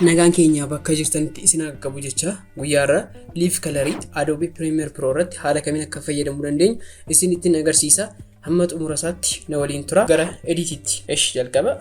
Nagaan keenya bakka jirtanitti isin haa qaqqabu jecha guyyaa irraa liif kalarii Adobe Premiere Pro irratti haala kamiin akka fayyadamuu dandeenyu isin ittiin agarsiisa. Hamma xumura isaatti na waliin tura. Gara editiitti. Esh jalqaba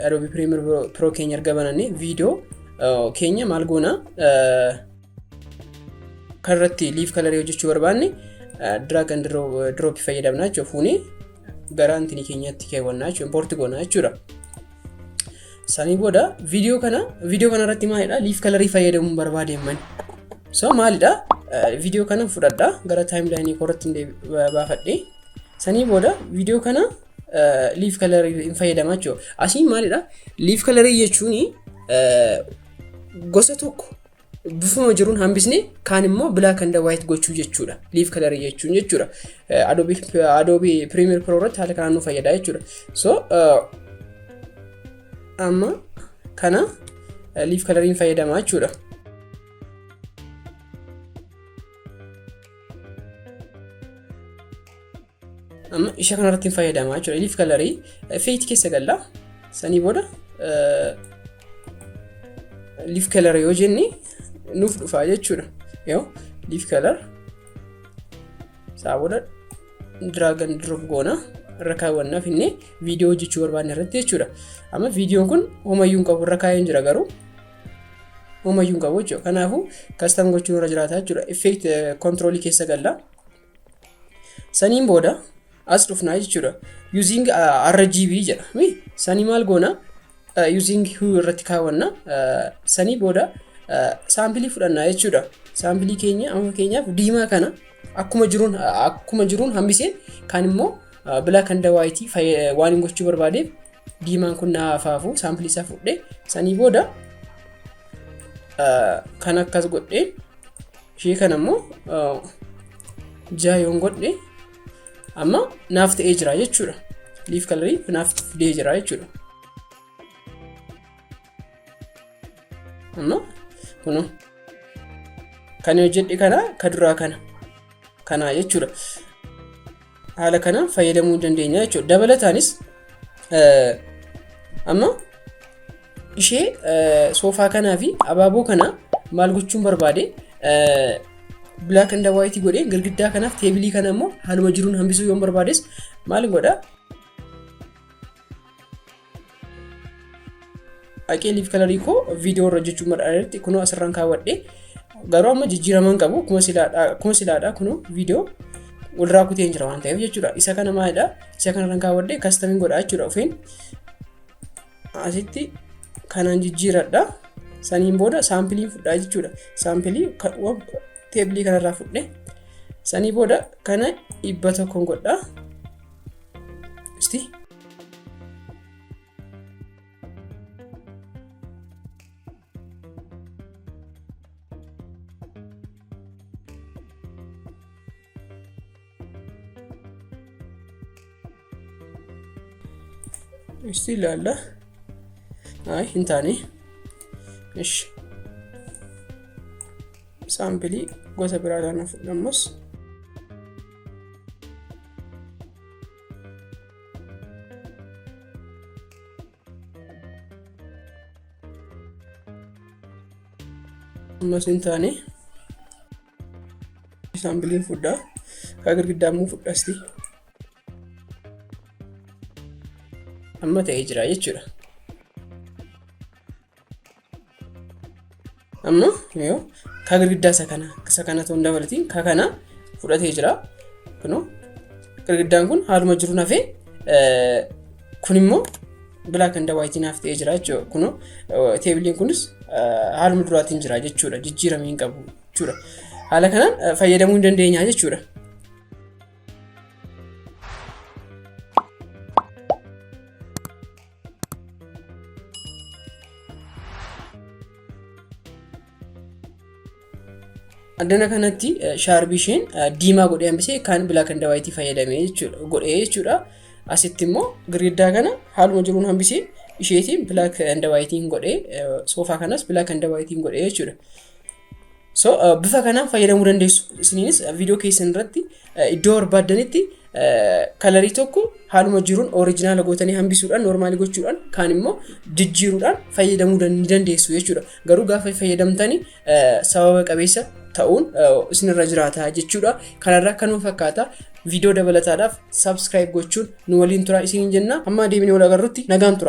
Adobe Premiere Pro keenya erga banannee viidiyoo keenya maal goona kan irratti liif kalarii hojjechuu barbaanne drag and drop fayyadamna jechuudha. Fuunee gara antini keenyatti keewwannaa jechuudha. Importi goonaa jechuudha. Sanii booda viidiyoo kana viidiyoo kana irratti maalidha liif kalarii fayyadamuun barbaade himman. So maalidha viidiyoo kana fudhadha gara taayimlaayinii koo irratti baafadhe. Sanii booda viidiyoo kana liif kalarii hin fayyadama jechuudha. Asiin maalidha liif kalarii jechuun gosa tokko bifuma jiruun hambisne kaan immoo black and white gochuu jechuudha leaf color jechuun jechuudha Eh, adobe adobe premier pro irratti haala kanaan nu fayyada jechuudha so eh, amma kana eh, leaf coloriin fayyadama jechuudha amma isha kanarratti hin fayyadamaa jechuudha ilif kalarii feeti keessa galla sanii booda liif kalar yoo jenne nuuf dhufaa jechuudha yoo liif kalar isaa booda diraagan drop goona irra kaawwannaa finnee viidiyoo hojjechuu barbaadne irratti jechuudha amma viidiyoon kun homayyuu hin qabu irra kaa'een jira garuu homayyuu hin qabu jechuudha kanaafuu kastam gochuun irra jiraata jechuudha effeekt kontiroolii keessa galla saniin booda as dhufnaa jechuudha using uh, rgb jedha mi sanii maal goona uh, using hue irratti kaawwanna uh, sanii booda uh, saampilii fudhannaa jechuudha saampilii keenya amma keenyaaf diimaa kana akkuma jiruun uh, akkuma jiruun hambiseen kaan immoo uh, black and white fayyada- waan hin gochuu barbaadeef diimaan kun na hafaafu saampilii isaa fudhee sanii booda uh, kan akkas godheen ishee kana immoo jaha yoon godhe amma naaf ta'ee jira jechuudha liif kalarii naaf fidee jira jechuudha amma kunu kan hojjedhe kana ka duraa kana kanaa jechuudha haala kanaan fayyadamuu dandeenya jechuudha. Dabalataanis amma ishee soofaa kanaa fi abaaboo kana maal gochuun barbaade black and white godhee girgiddaa kanaaf teebilii kana immoo haaluma jiruun hambisuu yoon barbaades maal godha Dhaqee liif kalarii koo viidiyoo irra hojjechuu madaalarratti kunoo asirraan kaawwadhe. Garuu amma jijjiiraman qabu kuma silaadha kunoo viidiyoo walirraa kutee hin jira waan ta'eef jechuudha. Isa kana maalidha? Isa kanarraan kaawwadhe kastamiin godhaa jechuudha ofiin. Asitti kanaan jijjiiradha. Saniin booda saampilii fudhaa jechuudha. Saampilii teebilii kanarraa fudhe. Sanii booda kana dhibba tokkoon godhaa. Isti. Isti ilaalla. Ay, hin taane. Ishi. Saampilii gosa biraadhaan fudhamus. ammas hin taane saambiliin fudhaa kaa girgiddaa immoo fudhasti amma ta'ee jira jechuudha amma yoo ka girgiddaa isa kana isa kana ta'uu hin dabalatiin ka kana fudhatee jira kunoo girgiddaan kun haaluma jiru nafee kun immoo black and white naaf ta'ee jira jechuudha kunoo teebiliin kunis haaluma duraatiin jira jechuudha jijjiiramee hin qabu jechuudha haala kanaan fayyadamuu hin dandeenya jechuudha. addana kanatti shaarbii isheen diimaa godhee hambisee kan bilaa kan dawaayitii fayyadamee jechuudha godhee jechuudha asitti immoo girgiddaa kana haaluma jiruun hambisee isheetiin bilaa kan dawaayitiin godhee soofaa kanas bilaa kan dawaayitiin godhee jechuudha So uh, bifa kanaan fayyadamuu dandeessu. Isiniinis uh, viidiyoo keessan irratti uh, iddoo barbaaddanitti uh, kalarii tokko haaluma jiruun orijinaala gootanii hambisuudhaan noormaalii gochuudhaan kaan immoo jijjiiruudhaan fayyadamuu dan- ni dandeessu jechuudha. Garuu gaafa fayyadamtanii uh, sababa qabeessa ta'uun uh, isinirra jiraata jechuudha. Kanarraa kanuma fakkaata. Viidiyoo dabalataadhaaf subscribe gochuun nu waliin tura isiniin jenna. Amma deebinee wal agarrutti nagaan tura.